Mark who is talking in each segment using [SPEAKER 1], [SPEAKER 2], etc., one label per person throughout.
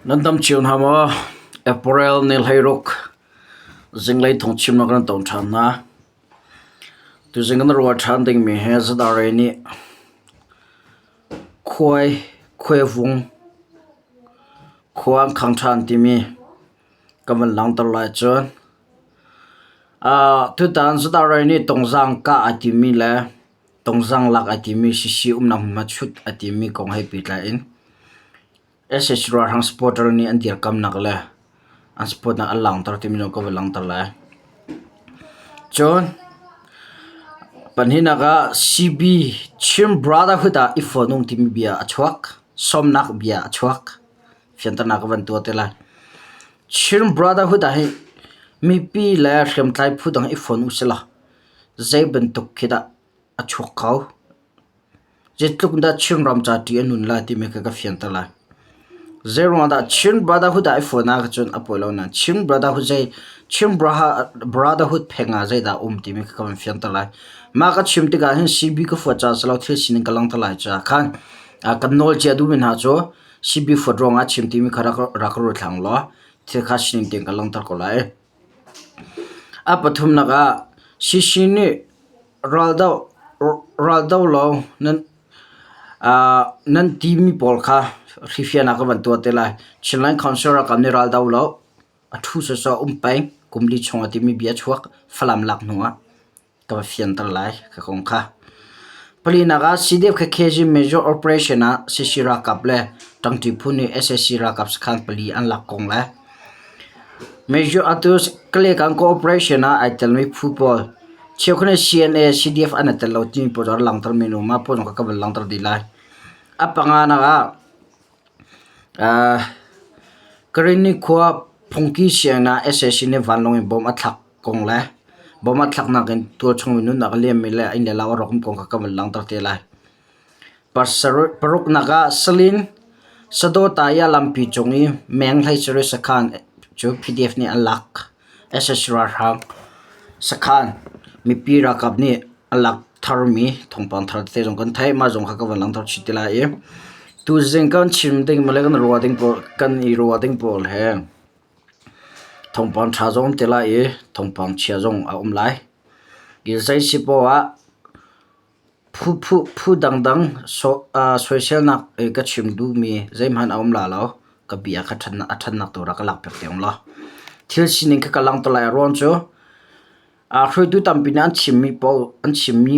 [SPEAKER 1] Nan tam cio hna maw? Apparel ne hlei ruk zinglei thongchim na kan ton ṭhan hna. Tuzing kan ruah ṭhan dingmi hi zadare nih khuai, khuaivung, khua an khang ṭhan timi kan van langhter lai cun. Tutan zadare nih tungzang kah a timi le Tungzang lak a timi sisi umnak hmunhma chut a timi kong he pehtlai in SH ralhrang supporter nih an dirkamnak le an supportnak an langhter timi zong ka va langhter lai. Cun pahnihnak ah CB Chin Brotherhood ah i fonung timi bia a chuak sawmnak bia a chuak fianternak ka van tuah te lai. Chin Brotherhood ah hi mipi le hriamtlai phu dang i fon u sila Zeibantuk khi dah a chuak kho? Zeitluk in dah Chinram ca ṭi a nun lai timi kha ka fianter lai. Zeiruangah dah Chin Brotherhood ah i fawn ahcun cun a pawi lo nain Chin Brotherhood zei Chin Brotherhood pheng ah zeidah a um timi kha ka van fianter lai. Mah ka chim tikah hin CB ka fuat caah silo thil sining ka langhter lai caah khan kan nawlcia duhmi hna cu CB fuat ruangah a chim timi kha rak ruat hlah ulaw thil kha sining tein kan langhter ko lai. A pathumnak ah Shishi nih raldo law nan timi pawl kha hrifian ah ka van tuah te lai. Chinland Council ralkap nih raldo law a ṭhu sawsawh um peng kum li chung ah timi bia a chuak Falam lak hnu ah. ka va fianter lai ka kong kha. Palinak ah CDF khekhe zing major operation ah CC ralkap le ṭangṭi phu nih SAC ralkap sakhan pali an lak kong le Major Atus Kalekan cooperation ah ai telmi phu pawl cheukhne CNA CDF an i tel lo timi pawl cu an langhtermi nu mah pawl zong kha ka van langhter dih lai. A panganak ah ah Karin nikhua phungki sianginn ah SAC nih vanlawng in bomb a thlak kong le bawm ah thlaknak in tual chung in nunnak a liammi le a inn le lau a rawk mi kong kha ka van langhter te lai. Paruknak ah salin sadawta i a lampi cung i meng hlei cari sakhan cu PDF nih an lak SSC ralhrang sakhan mipi ralkap nih an lak tharmi thawngpang thar tete zong kan theih mah zong kha ka van langhter chih te lai i tuzing kan chim ding male kan ruah ding pawl kan i ruah ding pawl he Thawngpang ṭha zong an ti lai i thawngpang chia zong a um lai. Zei si poh ah phu dangdang soiselnak i ka chim duhmi zeihmanh a um la lo. Ka bia kha a ṭhatnak tu rak ka lak piak te ung law. Thil sining kha ka langh te lai. A ruang cu hruaitu tampi nih an chimmi poh an chimmi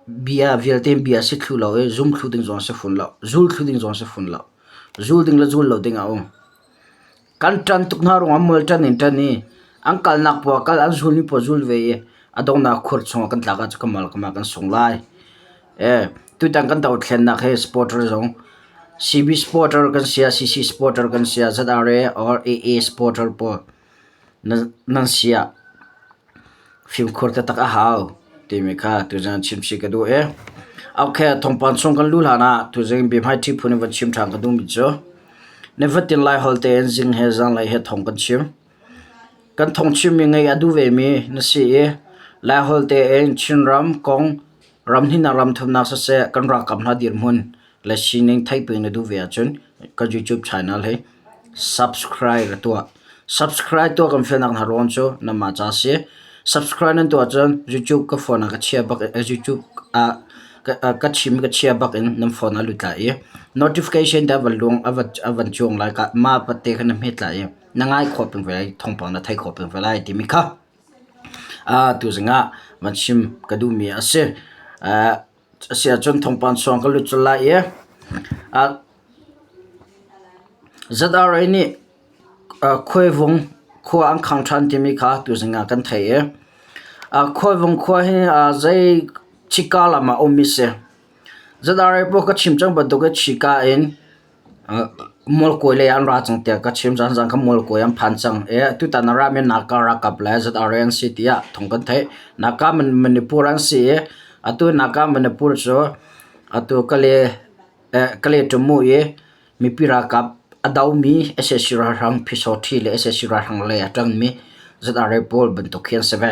[SPEAKER 1] Bia vialte in bia a si thlu lo i zum thlu ding zong a si fun lo. Zul thlu ding zong a si fun lo. Zul ding le zul lo ding a um. Kan ṭan tuk hna ruangah mual ṭan in ṭan i an kalnak paoh ah kal an zulmi paoh zul ve i a donghnak khuar chungah kan tlak ah cu kamal kamal kan sung lai. Ee tutan kan dothlennak hi supporter zong CB supporter kan si ah CC supporter kan si ah ZRA or AA supporter pawl Nan siah fimkhur taktak a hau timi kha tuzan chim chih ka duh i. Okay, thawngpang chung kan luh hlanah tuzan biahmaiṭhi phun in va chim ṭhan ka duhmi cu nifatin Lai holh tein zing he zanlei he thawng kan chim. Kan thawng chimmi ngaih a duh vemi na si i Lai holh tein Chinram kong Ramhnihnak ramthumnak siseh kan ralkap hna dirhmun le sining theih pin na duh ve ahcun kan YouTube channel hi subscribe na tuah. Subscribe tuah kan fialnak hna ruang cu nanmah ca si. Subscribe nan tuah cun YouTube ka phone ah ka chia bak eh, YouTube ah ka ah, ka chim ka chia bak in nan phone ah lut lai i notification dah van lung a van a van chuang lai ka ma patte kha na hmet lai i na ngai khawp pin ve lai thongpang na thei khawp pin ve lai timi kha Tuzing ah van chim ka duhmi a si. A si ahcun thawngpang chuang ka lut colh lai i ZRA nih Khuaivung khua an khang ṭhan timi kha tuzing ah kan theih i Khuaivung khua hi zei Chika lam ah a um i si. ZRA pawl ka chim cang bantuk i Chika in Mualkawi lei an ra cang tiah ka chim caan caan kha mualkawi an phan cang i tutan ah rami Naka ralkap le ZRA an si tiah thawng kan theih. Naka Manipur an si i atu Naka Manipur cu atu Kale Kale Ṭumu i mipi ralkap a domi sac ralhrang Pyisaw ṭhi le sac ralhrang lei a ṭangmi ZRA pawl bantuk khi an si ve.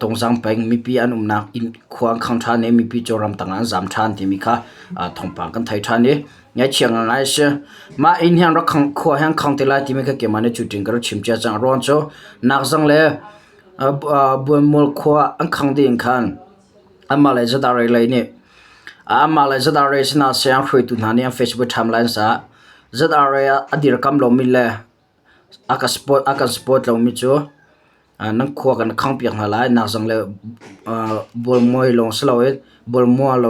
[SPEAKER 1] Tawngzang peng mipi an umnak inn khua an khang ṭhan i mipi cu ramtang ah an zam ṭhan timi kha thawngpang kan thei ṭhan i ngaihthiam ngaingai a si. Mah inn hi an rak khang khua hi an khang te lai timi kha keimah nih cutin ka rak chim cia cang. A ruang cu Nakzang le Buanmual khua an khang dih in khan anmah le Zadar-ei lei nih anmah le Zadar-ei sinah saya an hruaitu hna nih an Facebook ṭhamlai an sa. Zadar-ei ah a dirkamh lomi le A kan support lomi cu nan khua kan khang piak hna lai. Nak zang le bualmual lawng si loin bualmual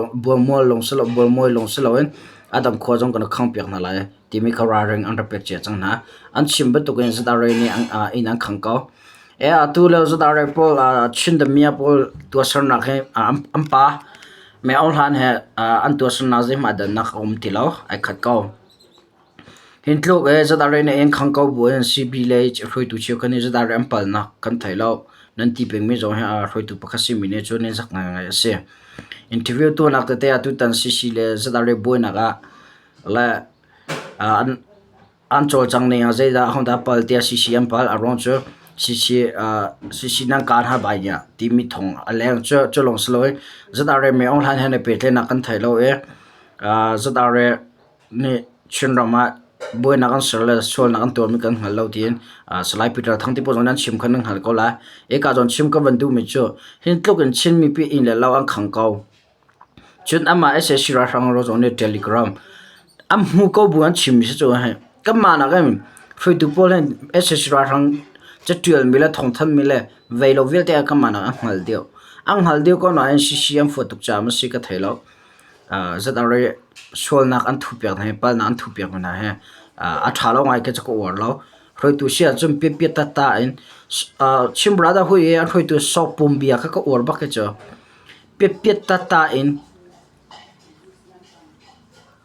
[SPEAKER 1] siloin a dang khua zong kan rak khang piak hna lai timi kha ralring an rak pek cia cang hna. An chim bantukin Zadare nih inn an khang ko. Atu lio Zadare pawl Chin Damiah pawl tuahsernak hi an pa mei ohan he an tuahsernak zeihmah dah nak a um ti lo ai khat ko. Hi tluk i zadarih na ing khang ko bu in Civillage hruaitu cheukhat nih zadarih an palnak kan theih lo. Nan ti pengmi zong hi a hruaitu pakhat simi nih cun in sak ngaingai a si. Interview tuahnak tete ah tutan CC le zadarih buainak ah le an an cawlcang ning ah zeidah ahodah a pal tiah CC an pal. A ruang cu CC CC nan kaan har bai nia timi thawng a leng cu cu lawng si lo i zadarih mi ohlan he na pehtlaihnak kan theih lo i zadarih Nih Chinram ah buainak an ser le sualnak an tuarmi kan hngal lo tiin Salai Peter Thang tipawl zong nih an chim kha nan hngal ko lai. Eka zawn chim ka van duhmi cu hi tluk in Chin mipi inn le lau an khang ko. Cun anmah sac ralhrang ro zong nih Telegram an hmu ko bu an chimmi si cu hi kanmah nakin hruaitu pawl hin sac ralhrang catialmi le thawngthanhmi le vei lo vialte kanmah nakin an hngal deuh. An hngal deuh ko nain CC an fuah tuk caah a si ka thei lo. Zatarei sualnak an thuh piak hna hi, palnak an thuh piak mi hna hi a tha lo ngai khi a cu ka uar lo. Hruaitu si ahcun piatpiat tatta in Chin Brother hui i an hruaitu Sopum bia kha ka uar bak hi cu. Piatpiat tatta in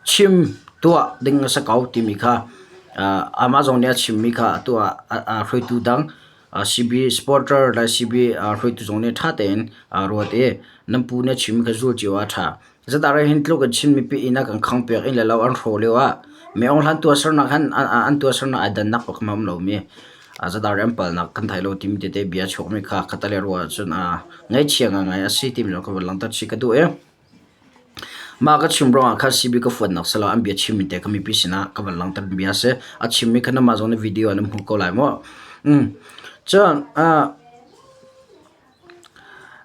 [SPEAKER 1] chim tuah ding a si ko timi kha amah zong nih a chim mi kha atu ah hruaitu dang CBA supporter le CBA hruaitu zong nih ṭha tein ruat i nan pu nih a chimmi kha zul cio ah a ṭha. Zeitah rai hin tluk in Chin mipi ihnak an khangpiak in le lo an hraw lio ah mi aung hlan tuahsernak han an tuahsernak ai dannak paoh kha a um lomi zeitah rai an palnak kan thei lo timi tete bia a chuakmi kha kha tal i ruah ahcun ngaichia ngai a si timi zong ka van langhter chih ka duh i. Mah ka chim ruangah kha CB ka fuannak si lo an bia chimmi te kha mipi sinah ka van langhtermi bia a si. A chimmi kha nangmah zong na video ah na hmu ko lai maw? Um cun ah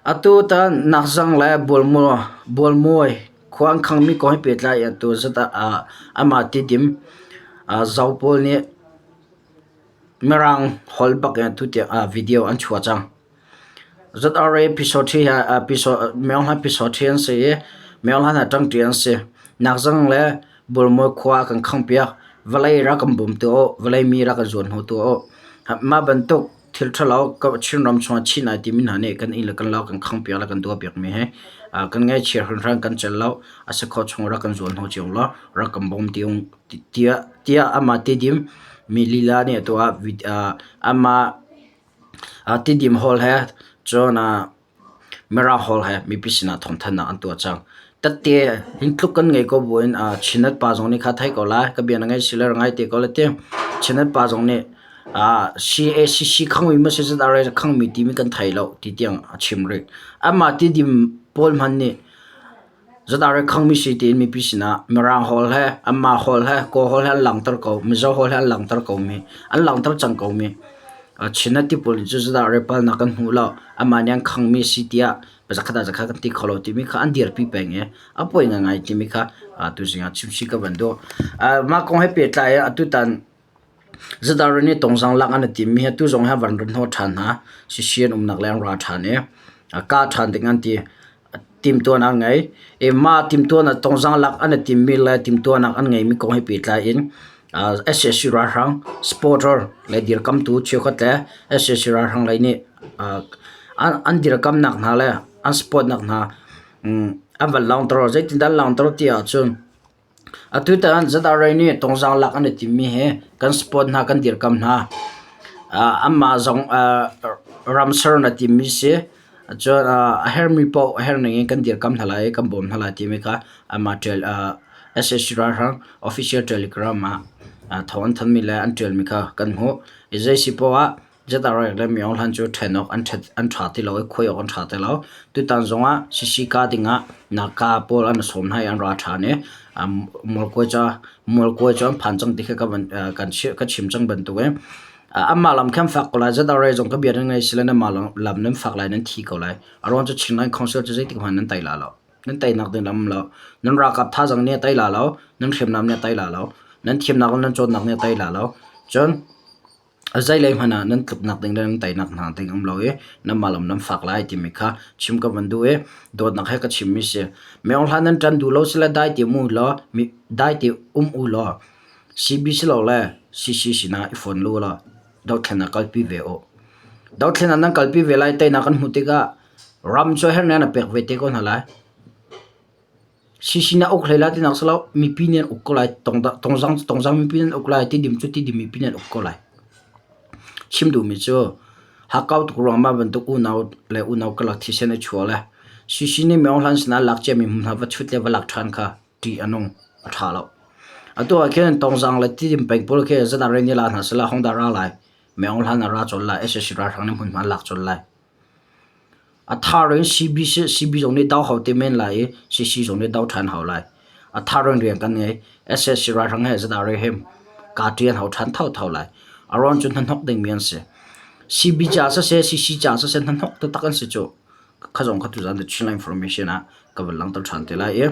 [SPEAKER 1] atu tan nakzang le bualmual bualmuai khua an khangmi kong he pehtlai in atu zat ah amah tidim ah zau pawl nih Mirang holh bak in atu tiang ah video an chuah cang. ZRA myohlan Pyisaw ṭhi an si i myohlan ah ṭangṭi an si. Nakzang le Bulmui khua a kan khanghpiak. Vawlei rak kan bum tuah u, vawlei mi rak kan zuan hau tuah u. Mah bantuk thil ṭhalo Chin ram chungah chinh ai timi hna nih kan inn le kan lo kan khanghpiak le kan tuahpiakmi hi kan ngaihchia hringhran kan celh lo. A si khawh chungah rak kan zuan hau cio law rak kan bawm ti u tiah amah tidim mi lila nih a tuah. Amah Tidim hawl he cun Mara hawl he mipi sinah thawngthanhnak an tuah cang. Tatte hin tluk kan ngei ko buin Chinat pa zong nih kha thei ko lai. Ka bia na ngaih si le ra ngai te ko le ti. Chinat pa zong nih CACC khangmi maw si zat are khangmi timi kan thei lo ti tiang a chim rih. Anmah tidim pawl hmanh nih Zanarei khangmi sui tiin mipi sinah Mirang hawl le anmah hawl le kaw hawl he an langhter ko. Mizo hawl he an langhter komi, an langhter cang komi. China tipul nih cun zanarei palnak an hmu lo. Anmah nih an khangmi a si tiah mi zakhat ah zakhat kan ti kho lo timi kha an dirpi peng i a poi ngaingai timi kha tuzing ah chimhsi ka van duh. Mah kong he pehtlai in atutan Zadarin i tawngzang lak an i timmi hi atu zong hi a van run hnawh ṭhan hna. Sisi an umnak leng an ra ṭhan i a kah ṭhan ding an ti. Timhtuan an ngei. I mah timhtuan ah tawngzang lak an i timmi le timhtuahnak an ngeimi kong he pehtlai in ah sac ralhrang supporter le dirkamtu cheukhat le sac ralhrang lei nih ah an dirkamnak hna le an support nak hna an van laungter. Zeitindah an laungter ti ahcun Atutan Zadarai nih tawngzang lak an i timmi hi kan sport hna kan dirkamh hna. Aa anmah zong aa ram ser in a timmi si. Cun aa a hermi paoh a herning in kan dirkamh hna lai i kan bawm hna lai timi kha anmah ṭial aa SAC ralhrang official telegram ah aa thawng an thanmi le an ṭialmi kha kan hmuh. Hi zei si poah ah General le miohlan cu ṭhen awk an ṭha ti lo i khuai awk an ṭha ti lo. Tutan zongah sisika dingah naka pawl an sawm hna i an ra ṭhan i mualkawi cu an phan cang ti khi ka chim cang bantukin. Anmah lam khi an fak ko lai. General zong ka bia nan ngaih sile nanmah lam nan fak lai, nan thi ko lai. A ruang cu Chinland Council cu zeitik hmanh nan tei la lo. Nan teinak ding lam lo. Nan ralkap thazaang nih a tei la lo. Nan hriamnam nih a tei la lo. Nan thimnak le nan cawnnak nih a tei la lo. Cun Zeilei hmanh ah nan tluknak ding le nan teinak hna ding a um lo i nanmah lam nan fak lai timi kha chim ka van duh i dawtnak he ka chimmi a si. Miohlaan nan ṭan duh lo sile dai ti um u law dai ti um u law CB silole CC sinah i fon lu law dothlen ah kalpi ve u. Dothlen ah nan kalpi ve lai teinak kan hmuh tikah ram cu herhnen a pek ve te ko hna lai. Sisin ah uk hlei lai tinak a si lo. Mipi nih an uk ko lai. Tawngzam mipi nih an uk lai. Tidim cu tidim mipi nih an uk ko lai. Chim duhmi cu hakkau tuk ruangmah bantuk unau le unau karlak thisen a chuah le sisin nih meo hlan sinah lak ciami hmunhma va chut le va lak ṭhan kha ṭih a nung. A ṭha lo. Atu ah khin tawngzang le tidim peng pawl khi zat ah rel ni la hna sehla hong dah ra lai. Meo hlan ah ra colh lai. SSC ralhrang nih hmunhma lak colh lai. A thar in CB sih CB zong nih dau hau te men lai i CC zong nih dau ṭhan hau lai. A thar in rian kan ngei. SSC ralhrang he zat ah rel hem kaa ṭial hau ṭhan thotho lai. A ruang cu hnahnok dingmi an si. CB caah siseh CC caah siseh hnahnok taktak an si cu. Kha zong kha tuzan The Chinland Information ah ka van langter ṭhan te lai i.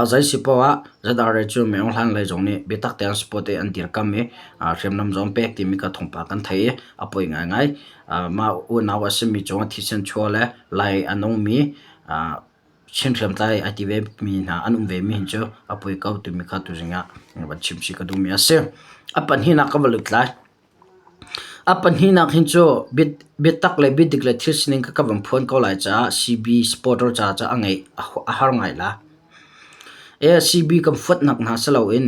[SPEAKER 1] Zeisi paoh ah Zadare cu miohlan lei zong nih biatak tein sport an dirkamh i hriamnam zong pek timi kha thawngpang kan theih i a poi ngaingai. Mah unau a simi cu thisen chuah le lai a nungmi Chin hriamtlai a ti vemi hna an um vemi hin cu a poi ko timi kha tuzing ah van chim chih ka duhmi a si. A pahnihnak ka va lut lai. A pahnih nak hin cu biatak le biadik le thil sining kha ka van phuan ko lai caah CB supporter ca cu a ngeih a har ngai la. CB kan fuatnak hna si loin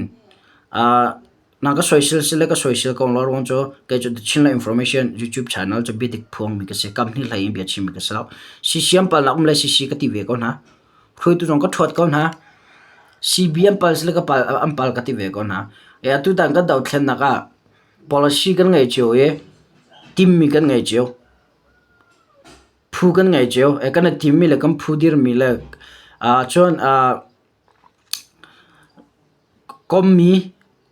[SPEAKER 1] na ka soisel si le ka soisel ko lo ruang cu kei cu The Chinland Information YouTube channel cu biadik phuangmi ka si. Kam hnih hlei in bia chimmi ka si lo. Sisiam pal nak um le sisi ka ti ve ko hna. Hruaitu zong ka ṭhuat ko hna. CB an pal si le an pal ka ti ve ko hna. Atu tan kan dothlennak ah Policy kan ngei cio i timmi kan ngei cio. Phu kan ngei cio. Kan i timmi le kan phu dirmi le ahcun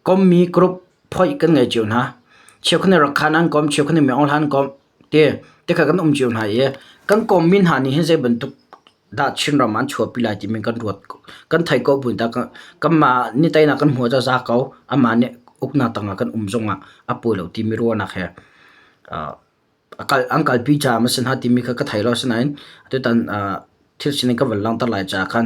[SPEAKER 1] kommi group phoih kan ngei cio hna. Cheukhat nih Rakhan an kom, cheukhat nih Myanmar an kom ti tikha kan um cio hna i kan kommi hna nih hin zeibantuk dah Chinram an chuahpi lai timi kan ruat ko. Kan theih ko bu dah kanmah ni teinak kan hmuh zaza ko amah nih uknak tangah kan um zongah a pawi lo timi ruahnak he a kal an kalpi caah masin ha timi kha ka thei lo asinain atutan thil sining ka van langhter lai caah khan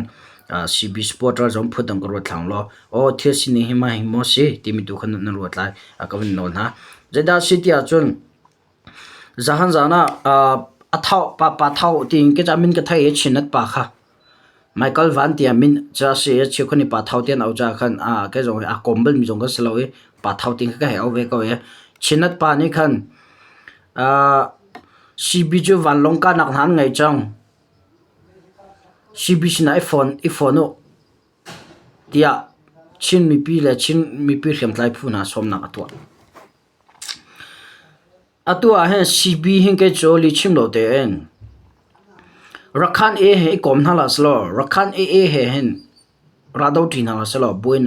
[SPEAKER 1] CB Sport ral zong phut dang ka ruat thlang law aw thil sining hi mah hi maw si timi tu khan nan ruat lai a ka van nawl hna. Zeidah a si ti ahcun Zahan zaan ah a tho papa tho tiin kecah min ka thei i chinat pa kha Michael Van tiah min ca a si i a cheu khan i pa tho tiah an auh caah khan kei zong hi aa kawm balmi zong kan si lo i pa tho tiin kha ka hei auh ve ko i chinat pa nih khan sibi cu vanlawng kahnak hna an ngei cang. Sibi sinah i fon u tiah Chin mipi le Chin mipi hriamtlai phu hna sawmnak a tuah. Atu ahhin sipi hi kei cu lihchim lo tein Rakhan AA he i kawm hna hlah selaw Rakhan AA he hin raldo ṭi hna hlah selaw buin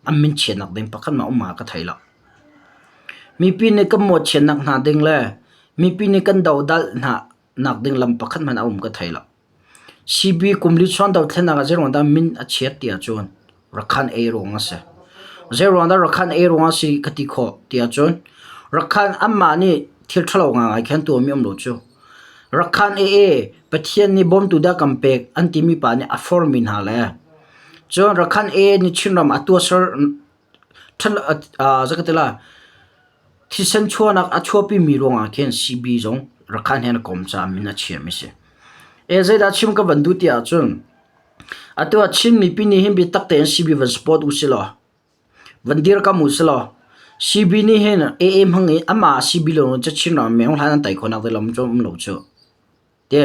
[SPEAKER 1] an min chiahnak ding pakhatmah um ah ka thei lo. Mipi nih kan mawhchiatnak hna ding le mipi nih kan dodalh hna nak ding lam pakhat hmanh a um ka thei lo. Sibi kum li chuan dothlennak ah zeiruangdah min a chiat ti ahcun Rakhan ei ruang a si. Zeiruangdah Rakhan ei ruang a si ka ti khawh ti ahcun Rakhan anmah nih thil ṭhalo ngaingai kha an tuahmi a um lo cu. Rakhan ee Pathian nih bawmtu dah kan pek an timi pa nih a formi hna le cun Rakhan ee nih Chinram a tuahser Thisen chuahnak a chuahpimi ruangah khin CB zong Rakhine he na kom caah min a chiami a si. Zeidah chim ka van duh ti ahcun atu ah Chinmipi nih hin biatak tein CB van support u silaw van dirkamh u silaw CB nih hin AA hmang i amah CB lawng in Cachin ram meng hlan an tei khawhnak ding lam cu a um lo cuh. ti.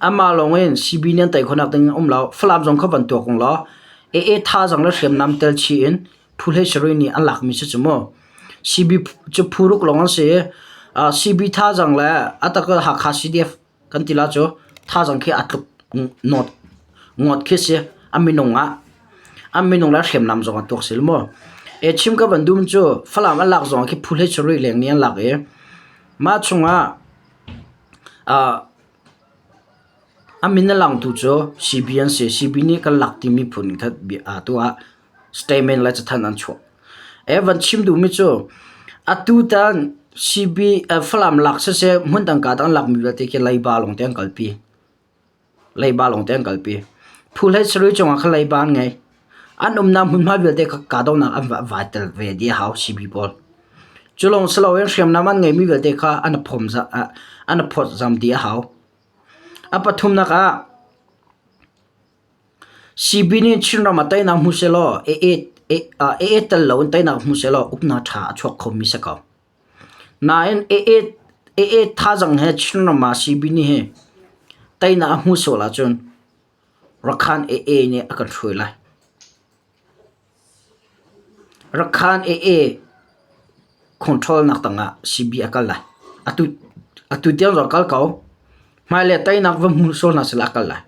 [SPEAKER 1] Amah lawng in CBD an tei khonak ding a um lo. Falam zong kha van tuak ung law AA thazaang le hriamnam tel chih in phuhlei sarih nih an lakmi si cu mu. CB cu phuruk lawng an si i ah CB thazaang le a tak ah Hakha CDF kan ti la cu thazaang khi aa tluk nawt ngawt khi si a minung ah a minung le hriamnam zong a tuak sil mu. E chim ka van dum cu Falam an lak zong khi phuhlei sarih leng nih an lak i mah chung ah A min a langtu cu CB an si. CB nih kan lak ti miphun in khat aa tuah. Statement le cathanh an chuah. A van chim duhmi cu atutan CB Falam lak siseh, hmun dangka tang an lakmi vialte khi leiba lawng te an kalpi. leiba lawng te an kalpi. Phu hlei sarui cungah khan leiba an ngei. An umnak hmunhma vialte kha kahdohnak an va va tel ve dih a hau sibi pawl. Cu lawng si loin hriamnam an ngeimi vialte kha an i phawm za- ah an i phawt zam dih a hau. A pathumnak ah sibi nih Chinram ah teinak hmu sehlaw a-et- a-et tel loin teinak hmu sehlaw uknak tha a chuak khomi si ko. Nain Aa thazang he Chinram ah Sibini hi teinak a hmuh sual ahcun Rakhan Aa nih a kan hruai lai. Rakhan Aa khungṭhawlnak tangah Sibi a kal lai. Atu tiang cu a kal ko. Hmailei ah teinak va hmuh sual hna sehlaw a kal lai.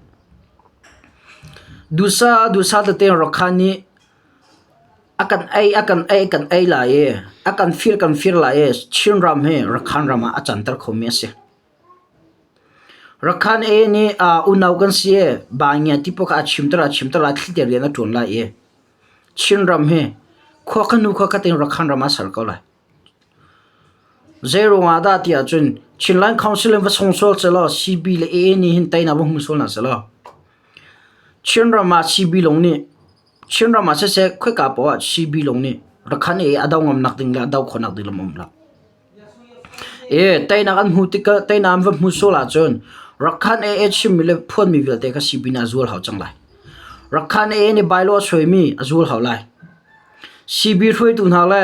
[SPEAKER 1] Dusa dusa tete in Rakhan nih A kan ei, a kan ei, kan ei lai i a kan fir, kan fir lai i Chinram hi Rakhan ram ah a canter khomi a si. Rakhan A nih uh, unau kan si i Bangia ti paoh kha a chimter lai, a chimter lai, thlitiar rian a ṭuan lai i Chinram hi khua kha hnu khua khat in Rakhan ram ah a ser ko lai. Zeiruangah dah tiah cun Chinland Council in va song sual selaw CB le AA nih hin teinak va hmu sual hna selaw Chinram ah CB lawng nih Chinram ah siseh khoika poah ah CB lawng nih rakhan i a do ngamnak ding le a do khawhnak ding lam a um lo. I teinak an hmuh tikah teinak an va hmuh sual ahcun rakhan AA chimmi le phuanmi vialte kha CB nih a zual hau cang lai. Rakhan AA nih bylaw a suaimi a zual hau lai. CB hruaitu hna le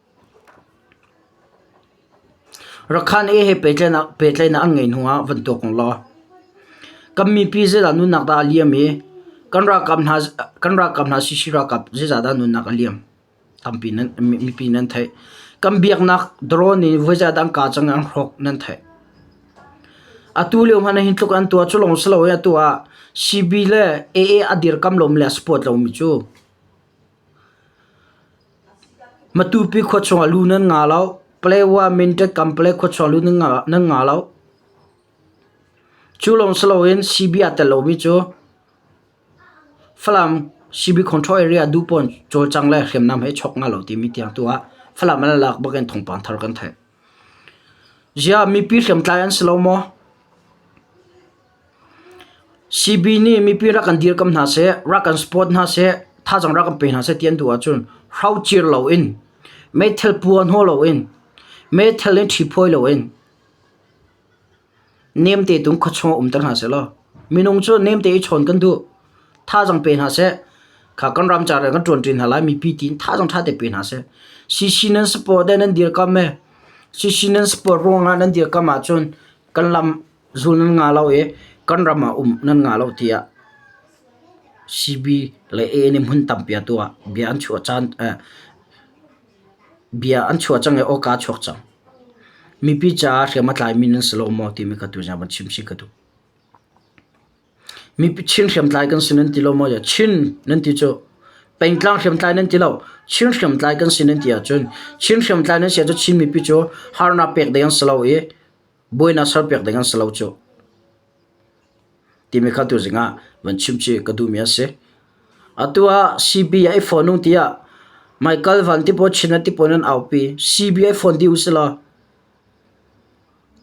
[SPEAKER 1] Rakhan he pehtlaihnak an ngeih hnuah van tuak u law kan mipi zeidah nunnak dah a liam i kan ralkap hna sac ralkap zeicah dah nunnak a liam tampi mipi nan theih. Kan biaknak drone in voizatdah an kaa cang i an hrawk nan theih. Atu lio hmanh ah hi tluk an tuah cu lawng si lo i atu ah CB le AA a dirkamh lomi le a support lomi cu Matupi khua chung ah lu nan ngah lo. Paletwa, Mindat, Kanpalek khua chung ah lu nan ngah lo. Cu lawng si loin sibi aa tel lomi cu Falam sibi control area duhpawn cawlcang le hriamnam he i chawk nga lo timi tiang tu ah Falam an lak bak in thawngpang thar kan theih. Ziah mipi hriamtlai an si lo maw? CB nih mipi rak kan dirkamh hna seh, rak kan support hna seh, thazang rak kan pe hna seh ti an duh ahcun hraucir loin, meithal puan haw loin, meithal in ṭhi phawi loin nemte tung khuachung ah umter hna sehlaw minung cu nemte i chawn kan duh. Thazang pe hna seh, kha kan ram ca rian kan ṭuan chin hna lai mipi tiin thazang ṭha te pe hna seh. CC nan support e nan dirkamh e, CC nan support ruangah nan dirkamh ahcun kan lam Zul nan ngah lo i kan ram ah um nan ngah lo tiah CB le AA nih hmun tampi a tuah ah bia an chuah caan bia an chuah cang i aw kaa chuak cang. Mipi caah hriam a tlaimi nan si lo maw timi kha tu zong van chim chih ka duh. Mipi Chin hriamtlai kan si nan ti lo maw tiah Chin nan ti cu pengtlang hriamtlai nan ti lo Chin hriamtlai kan si nan ti ahcun Chin hriamtlai nan si ahcun Chin mipi cu harnak pek ding an si lo i Buainak serpiak ding an si lo cuh timi kha tuzing ah van chim ci ka duhmi a si. Atu ah CB a i phone ung tiah Michael Van ti pawl Chin an ti pawl in an aupi. CB a i phone dih u silaw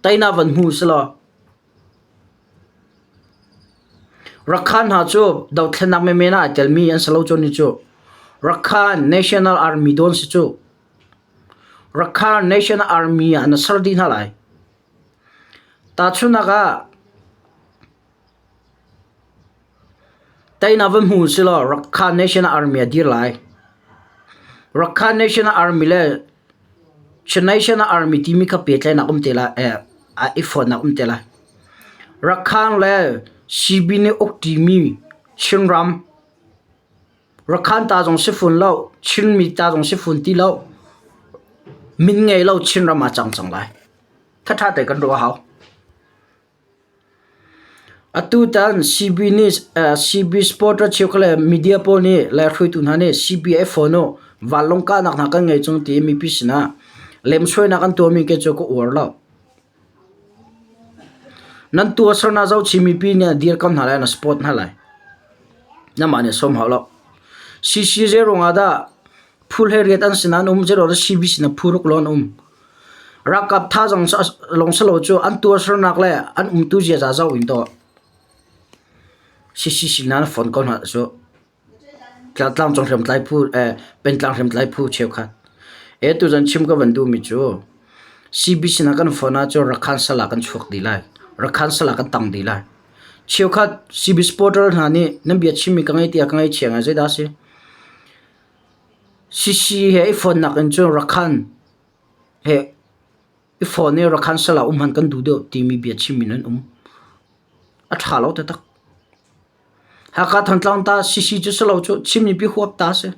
[SPEAKER 1] tainak van hmu silaw Rakhan hna cu dothlennak menmen ah ai telmi an si lo cu ni cu. Rakhan National Army dawn si cu. Rakhine Nation Army ah na ser dih hna lai. Tahchunhnak ah, teinak va hmu silaw Rakhine Nation Army ah dir lai. Rakhine Nation Army le Nation Army timi kha pehtlainak um te lai, eh, i fonnak um te lai. Rakhine le Sibin i uk ṭimi Chinram. Rakhan ta zong si fun lo, Chinmi ta zong si fun ti lo, min ngei lo Chinram ah cang cang lai. Thatha te kan ruah a hau. Atu tan CB nih uh, CB Sport ra cheu kale media pawl nih le hruitu hna nih CBA phone u vanlong kahnak hna kan ngei chung ti mipi sinah lemsoi nak an tuahmi ke cu ka uar lo. Nan tuahsernak zohchih mipi nih a dir ko hna lai, na support hna lai. Nangmah nih a sawm hau lo. CC zeiruang ah dah phu hleriat an sinah an um, zeiruang dah CBC na phu ruk lawng an um. Ralkap tha zong lawng si lo cu an tuahsernak le an umtu ziaza zoh in tuah. CCC hna na fonh ko hna cu. Tlahtlang cawk hriam tlai phu eh pengtlang hriam tlai phu cheukhat. E tuzan chim ka van duhmi cu CBC na kan phone ah cun Rakhan sal ah kan chuak dih lai. Rakhan sal ah kan tang dih lai. Cheukhat CBC portal hna nih nan bia chimmi ka ngei tiah ka ngeichiang ai zeidah a si? CC he i phone nakin cun Rakhan he i phone i Rakhan sal ah um han kan duh deuh timi bia chimmi nan um. A tha lo taktak. Hakha Thantlang ta Sisi cu si lo cu Chinmi pi huap ta a si.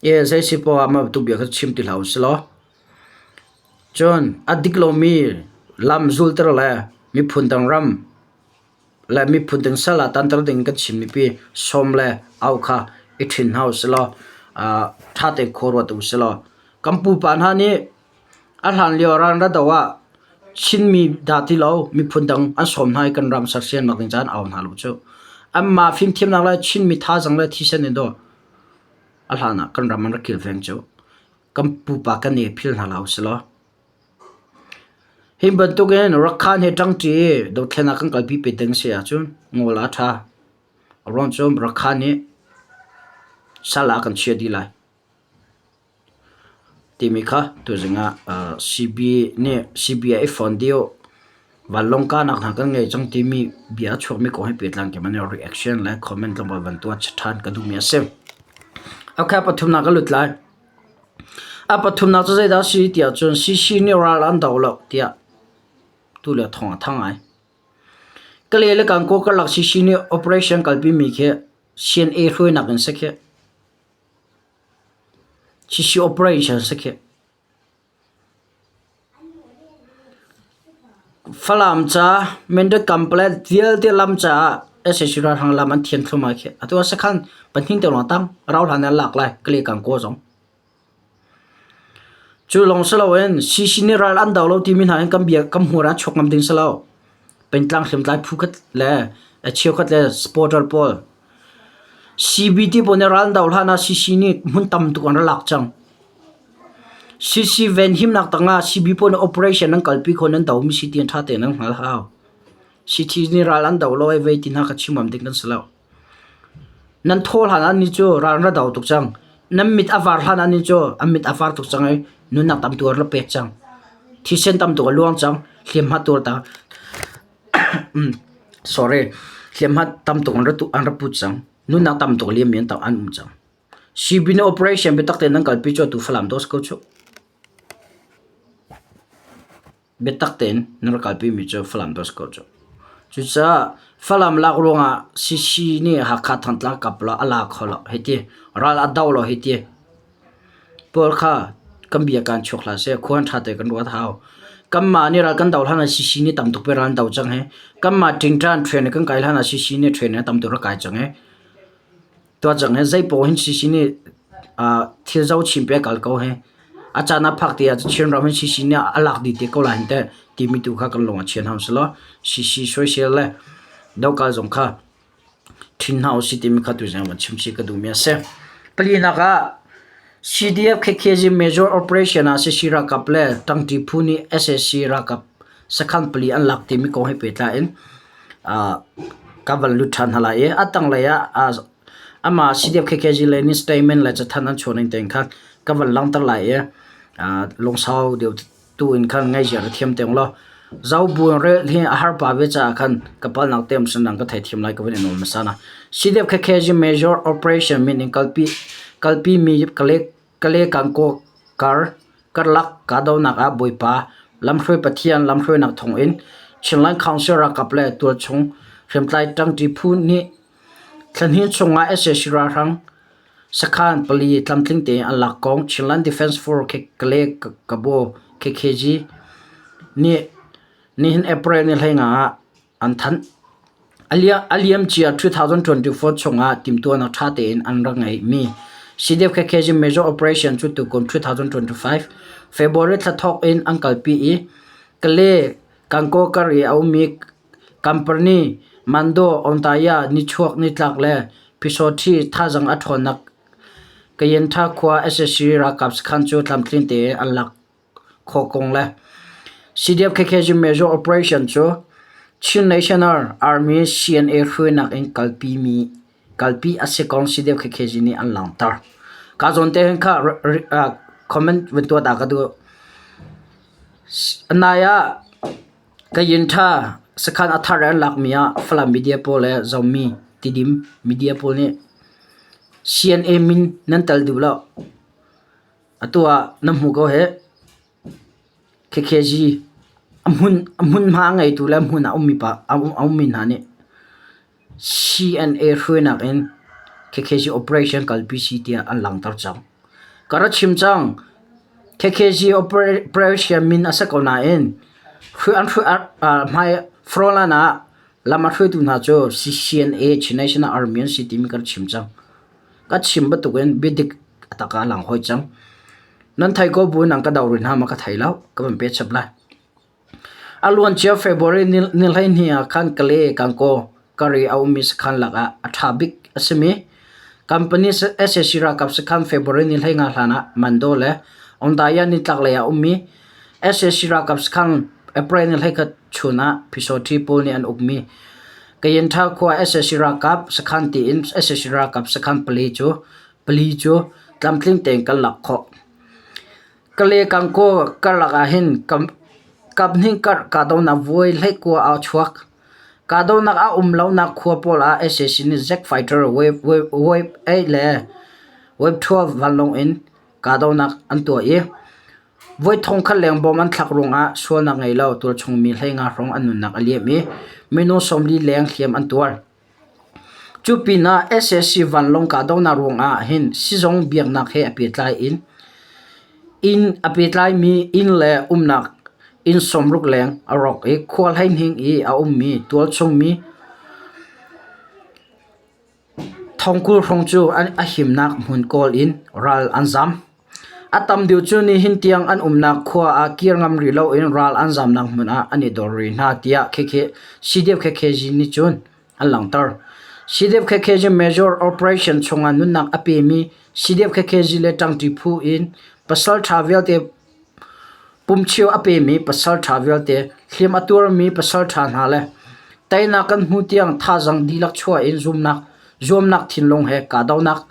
[SPEAKER 1] Ie zeisi poah ah mah bantuk bia kha chim ti hlah u si law cun a dik lomi lam zulter le miphun dang ram le miphun dang sal ah tanter ding in kan chim mipi sawm le au kha i ṭhin hna u si law ṭha tein khuaruat u si law kan pupa hna nih A hlanlio ranra do ah Chinmi dah ti lo miphun dang an sawm hna i kan ram sersiam nak ding caan a um hna lo cuh. Anmah fimthiamnak le Chinmi thazaang le thisen in do a hlan ah kan ram an rak kilveng cuh. Kan pupa kan i phil hna hlah usilaw. Hi bantuk in Rakhan he ṭangṭi i dothlen ah kan kalpi pe ding si ahcun ngol a ṭha. A ruang cu Rakhan nih sal ah a kan chiah dih lai. Timi kha tuzing ah CBI phone dih uh. Vanlawng kahnak hna kan ngei cang timi bia a chuakmi kong he pehtlai in keimah nih reaction le comment lungput van tuah ṭhan ka duhmi a si. Ok, pathumnak ka lut lai. A pathumnak cu zeidah a si tiah cun CC nih ral an do lo tiah tule thawng a thang ai. Ka le le Kankaw karlak CC nih operation kalpimi khi CNA hruainak in si khi Chishi operation si khih. Falam ca, Mandarin Complex vialte lam caah sac ralhrang lam an thian thluahmah khih. Atu ah sakhan pahnih te lawng a tang. Rau hlan in an lak lai, Kali Kang Kaw zong. Cu lawng si loin CC nih ral an do lo timi hna in kan bia kan hmur ah an chuak ngam ding si lo. Pengtlang hriamtlai phu khat le a cheukhat le supporter pawl. CBD pawl nih ral an do hlan ah CC nih hmun tam tuk an ra lak cang. CC venhimnak tangah CB pawl nih operation an kalpi kho nan do mi si ti an ṭha tein an hngal hau. CT nih ral an do lo ai vei ti hna kha chim ngam ding kan si lo. Nan thaw hlan ah ni cu ral na do tuk cang. Nan mit a var hlan ah ni cu an mit a var tuk cang i nunnak tam tu ah na pek cang. Thisen tam tuk a luang cang. Hliamhma tuar ta sorry, hliamhma tam tuk an ra tu an ra put cang. Nunnak tam tuk liam in an um cang. Sibin operation biatak tein nan kalpi cu atu Falam dos ko cuh. Biatak tein na rak kalpimi cu Falam tu a si ko cu. Cucaah Falam lak ruangah CC nih Hakha Thangtlang kapla a la kho lo hei ti. Ral a do lo hei ti. Paul kha kan bia kan chuak hla seh khuan ṭha te kan ruat hau. Kanmah nih ral kan do hlan ah CC nih tam tuk pe ral an do cang hi. Kanmah ṭingṭan train i kan kai hlan ah CC nih train in a tam tuk rak kai cang hi. tuahcang he zeipaw hin CC nih uh, thil zo chim pe kal ko he a caan a phak ti ah Chin ram hin CC nih a lak di te ko lai te ti mi tu kha kan lung a chian ham selo CC soisel le do kal zong kha thin hau si ti mi kha tu zang ma chim si ka du mi ase pali nak ah CDF KKZ Major Operation ah CC rakap le tangti phu ni SSC rakap sakhan pali an lak ti mi ko he pe tla in ka van lut ṭhan hna lai i a tanglei ah amah CDF KKG le nih statement le cathanh an chuah ning tein khan ka van langhter lai i lungsau deuh tu in khan ngaihziar a thiam te ulaw Zaubun rel hi a har pah ve caah khan ka palnak te sandang ka theithiam lai ka van in nawl hmasa hna CDF KKG Major Operation min in kalpi kalpi mi ka lek Kale Kangkaw kar karlak kahdohnak ah Bawipa lamhruai Pathian lamhruainak thawngin Chinland Council ralkap le tualchung hriamtlai ṭangṭi phu nih thlahnih chungah sac ralhrang sakhan pali tlamtling tein an lak kong Chinland Defence Force Kale Kabaw KKG nih nihin April ni hleinga ah A liam cia 2024 chungah timhtuahnak ṭha tein an rak ngeihmi CDF khekhe zing Major Operation cu tukum 2025 February thla thawk in an kalpi i Kale, Kangkaw kar i a ummi Kampani, Mando, Ontaya, Nichuak, Nitlak le Phisawthi thazaang a ṭhawnnak Kayintha khua SSC ralkap sakhan cu tlamtling tein an lak. khawkung le CDF KK cu Major Operation cu Chin National Army CNA hruainak in kalpi mi kalpi a si kong CDF KK zi nih an langhter. Ka zawn te hin kha comment vun tuah ta ka duh. Anai ah Kayin Tha sakhan a thar an lak mi ah Falam media pawl le Zomi Tidim media pawl nih CNA min nan tel duh lo. Atu ah na hmu ko hih. KKG a hmun a hmunhma a ngeitu le hmun ah a ummi pa a ummi hna nih CNA hruainak in KKG operation kalpi si tiah an langhter cang. Ka rak chim cang. KKG operation min a si ko nain an hmai frontline ah lam a hruaitu hna cu CNA Chin National Army an si timi ka rak chim cang. Ka chim bantuk in biadik a tak ah a lang hoi cang. Nan thei ko bu in an ka doh rih hna ma ka thei lo. Ka van peh chap lai. A luan cia February ni, ni hleihnih ah khan Kale, Kankaw, Kari a ummi sakhan lakah a ṭha bik a simi company SAC ralkap sakhan February ni hleinga hlan ah Mando le Ondaya nitlaklei ah a ummi Sac ralkap sakhang April ni hleikhat chun ah Pyisaw-Ṭhi pawl nih an ukmi Kayenṭha khua sac ralkap sakhan tiin sac ralkap sakhan pali cu pali cu tlamtling tein kan lak khawh. Kale Kangkaw karlak ahhin kaphnih karh kahdohnak vuai hleikua aa chuak. Kahdohnak a um lonak khua pawl ah sac nih Jack Fighter wave 12 vanlawng in kahdohnak an tuah i voi thong khat lengbawm an thlak ruangah sualnak ngei lo tualchung mi hleinga hrawng an nunnak a liam i mino sawmli leng hliam an tuar. Cu pinah SSC vanlawng kahdohnak ruangah hin sizung biaknak he a pehtlai in inn a pehtlaimi inn le umnak inn sawmruk leng a rawk i khua hleihning i a ummi tualchung mi Thongkul hrung cu a himnak hmun kawl in ral an zam. A tam deuh cu nihin tiang an umnak khua ah kir ngam rih loin ral an zamnak hmun ah an i dor rih hna tiah CDF KKZ nih cun an langhter. CDF KKZ Major Operation chungah nunnak a pemi CDF KKZ le ṭangṭi phu in pasalṭha vialte Pumchio a pemi pasalṭha vialte, hliam a tuarmi pasalṭha hna le teinak kan hmu tiang thazang dihlak chuah in zuamnak thinlung he kahdohnak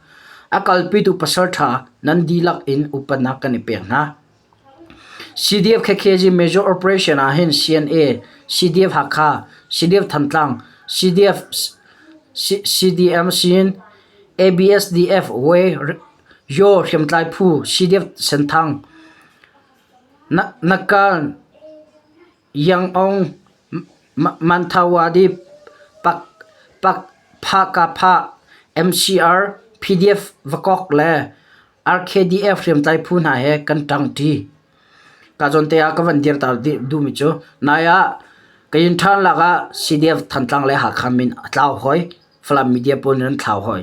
[SPEAKER 1] a kalpitu pasalṭha nan dihlak in upatnak kan i pek hna. CDF Khekhezi Major Operation ah hin CNA, CDF Hakha, CDF Thantlang, CDF, CDM sin, ABSDF Way Yaw hriamtlai phu CDF Senthang Nakal Yangon Manthawadip Phakapha MCR PDF Vakok le RKDF hriamtlai phu hna he kan ṭangṭi. Kazawnte ah ka van dir ta duhmi cu nai ah Kayin ṭhan lakah CDF Thantlang le Hakha min a tlau hoi. Falam media pawl nih an thlau hoi.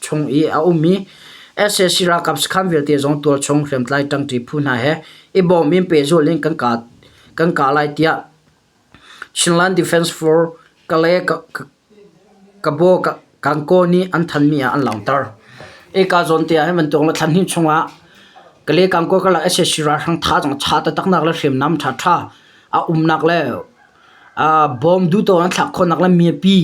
[SPEAKER 1] chung i a um i SAC ralkap sakhan vialte zong tualchung hriamtlai ṭangṭi phu hna he i bawm in pehzulh in kan kah kan kah lai tiah Chinland Defence Force Kale Kabaw Kankaw nih an thanmi ah an langhter. Ika zawn te ah hin bantuk la thlan hin chungah Kale Kankaw karlak SAC ralhrang tha zong cha tataknak le hriamnam ṭhaṭha a umnak le bom duhto an thlak khawhnak le miapi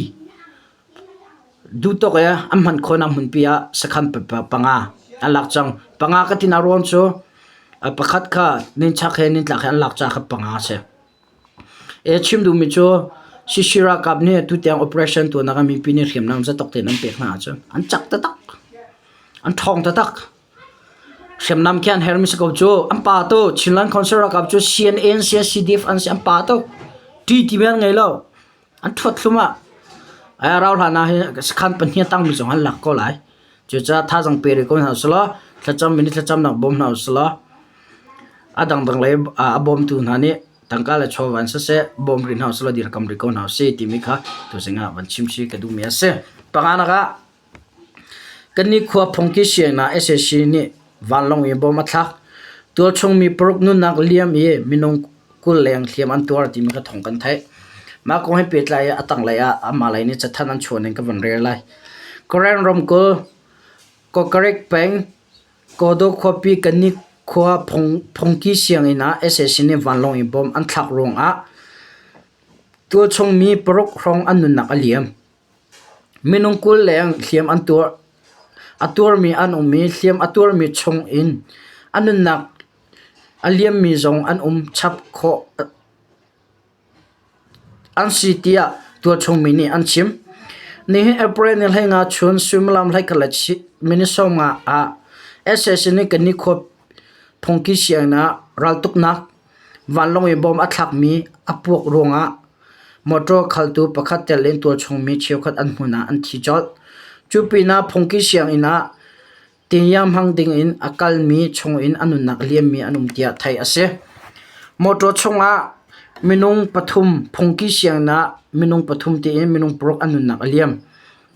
[SPEAKER 1] Duhtawk i an hman khawhnak hmunpi ah sakhan panga an lak cang. Panga ka tinak ruang cu pakhat kha ninchak he nintlak he an lak caan kha panga a si. E chim duhmi cu Shishir ralkap nih tutiang operation tuahnak ah mipi nih hriamnam zatok tein an pek hna ahcun an cak taktak. An ṭhawng taktak. Hriamnam khi an hermi si ko cu. An pa to Chinland Council ralkap cu CNA an si, CDF an si, an pa to ṭi ti men an ngei lo. An ṭhuathlum ah ai rau hlan ah hi sakhan pahnih a tangmi zong an lak ko lai. Cucaah thazaang pe rih ko hna usulaw thlacam in i thlacamnak bawm hna usulaw a dangdang lei a bawmtu hna nih tangka le chawva in siseh bawm rih hna usulaw dirkamh rih ko hna usih timi kha tuzing ah van chim hi ka duhmi a si. Panganak ah Kan nikhua phungki sianginn ah sac nih vanlawng i bawm a thlak. Tualchung mi paruk nunnak liam i minung kul leng hliam an tuar timi ka thawng kan theih. Mah kong he pehtlai i a tanglei ah amah lei nih cathanh an chuah ning ka vun rel lai. Karen ramkulh Kokkarik peng Kodo khuapi kan nikhua phungki sianginn ah sac nih vanlawng i bawm an thlak ruangah tualchung mi paruk hrawng an nunnak a liam. Minung kulleng hliam an tuar. A tuarmi an um i hliam a tuarmi chungin a nunnak a liammi zong an um chap khawh an si tiah tualchungmi nih an chim. Nihin April ni hleinga chun suimilam hleikhat le minute sawmnga ah SAC nih Kanni khua phungki sianginn ah raltuknak Vanlawng i bawm a thlakmi a puak ruangah motor khaltu pakhat telin tualchungmi cheukhat an hmun ah an thi colh. Cu pinah phungki sianginn ah tingiang hmang dingin a kalmi chungin a nunnak liammi an um tiah theih a si. Motor chungah minung pathum phungki sianginn ah minung pathum tiin minung paruk an nunnak a liam.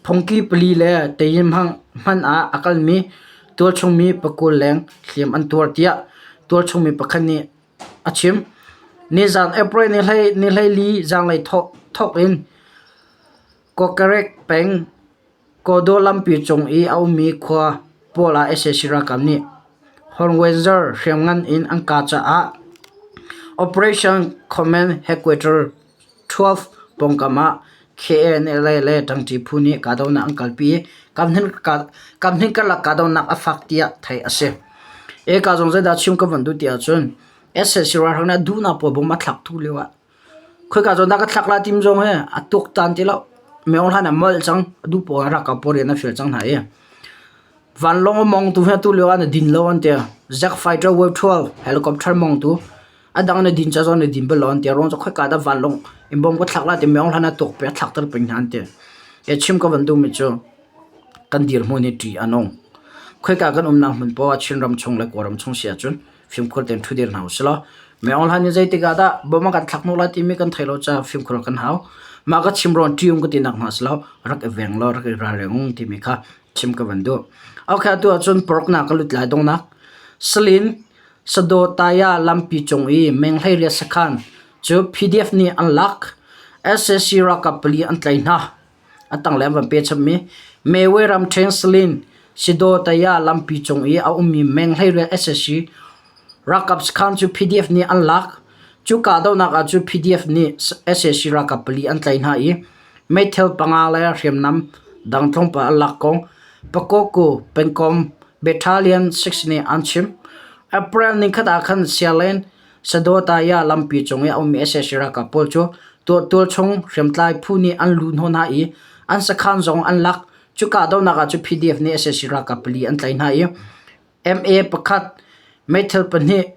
[SPEAKER 1] Phungki pali le tein hman ah a kalmi tualchungmi pakul leng hliam an tuar, tiah tualchungmi pakhat nih a chim. Nizaan April nihleili zanlei thawk in Kokkorek peng Kodo lampi cung i a ummi khua pawl ah sac ralkap nih Hornwenzor hriamngan in an kah caah Operation Command Headquarters 12 pawngkam ah KNLA le ṭangṭi phu nih kahdohnak an kalpi i kamhning karlak kahdohnak a fak tiah theih a si. Eka zong zeidah chim kan von duh ti ahcun SSC ralhrang nih a duhnak pawl bom a thlak thu lio ah khoika zawn dah ka thlak lai timi zong hi a tuaktan ti lo. Meo hlan ah molh cang duh pawl an rak kau pawl rian a fial cang hna i vanlawng a mawngtu hi atu lio ah an din lo an ti. Zack Fighter Wave 12 helicopter mawngtu Adang na din cazawng na din balon tia rong cu khoika dah vanlawng in bawm ka thlak la ti meong hlan a tuk pe a thlak ter pin hnan ti. Ke chim ka van du mi cu kan dir hmun hi ṭi anong. Khoika kan um nang hmun po a chin ram chung le ko ram chung sia cun fimkhur ten thu dir hau selo. Meong hlan in zeitika dah bawma kan thlak nu la ti mi kan thai lo ca fimkhur kan hau. Ma ka chim ron ṭium ka ti nak ma selo rak e veng lo rak e ra reng ti mi kha chim ka van du. Okay atu ah cun porok na ka lut lai dong nak. Salin Sadaw Taya lampi cung i meng hleiriat sakhan cu PDF nih an lak, sac ralkap pali an tlai hna. A tanglei an van pehchapmi Mewwe ramṭheng Salin Sadaw Taya lampi cung i a ummi meng hleiriat sac ralkap sakhan cu PDF nih an lak. Cu kahdohnak ahcun PDF nih sac ralkap pali an tlai hna i Meithal panga le hriamnam dang tlawmpal an lak ko. Pagoku pengkom Battalion 6 nih an chim. April nikhat ah khan Sialen Sadotaya lampi cung i a ummi sac ralkap pawl cu tuahtual chung hriamtlai phu nih an lu hnawh hna i an sakhan zong an lak. Cuka dohnak ah cu PDF nih sac ralkap pali an tlaih hna i MA pakhat, meithal pahnih,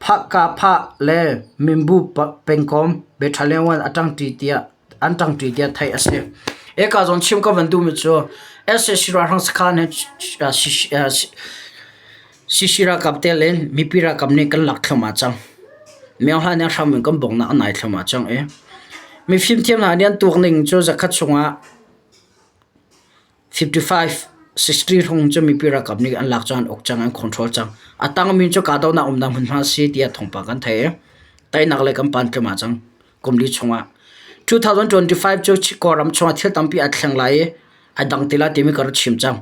[SPEAKER 1] Phahka phah le mimbu pengkawm be ṭhaleng in an ṭangṭi tiah theih a si. Hika zawn chim ka van duhmi cu SAC ralhrang sakhan he CC ralkap te le mipi ralkap nih kan lak thluahmah cang. Miohla nih hram in kan bawmhnak an nai thluahmah cang i mifimthiam hna nih an tuak ning cu zakhat chungah 55 63 hrung cu mipi ralkap nih an lak cang an uk cang an control cang a tangmi cu kahdohnak umnak hmunhma a si tiah thawngpang kan theih i tainak lei kan pan tlima cang kumli chungah 2025 cu Kawlram chungah thil tampi a thleng lai i a dang tila timi ka rak chim cang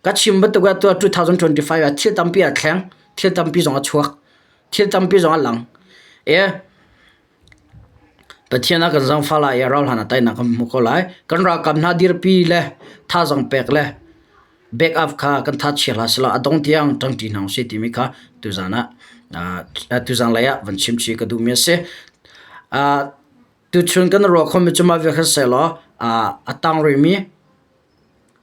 [SPEAKER 1] ka chim bantuk ah tu 2025 ah thil tampi a thleng thil tampi zong a chuak thil tampi zong a lang e Pathian a kan zangfah lai i a rauhhlan ah teinak kan hmu ko lai. Kan ralkap hna dirpi le thazang pek le backup kha kan that chia hlah selaw a dong tiang ṭangṭi hna usih timi kha tuzan ah tuzan lei ah van chim chih ka duhmi a si. Tuchun kan ruah khomi cu mah vialte seh law a tangruimi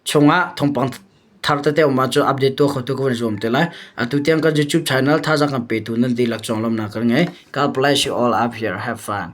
[SPEAKER 1] Chungah thawngpang thar tete a um ahcun update tuah khotu ka van zuam te lai. Atu tiang kan YouTube channel thazaang kan petu nan dihlak conglawmhnak kan ngei. God bless you all up here. Have fun.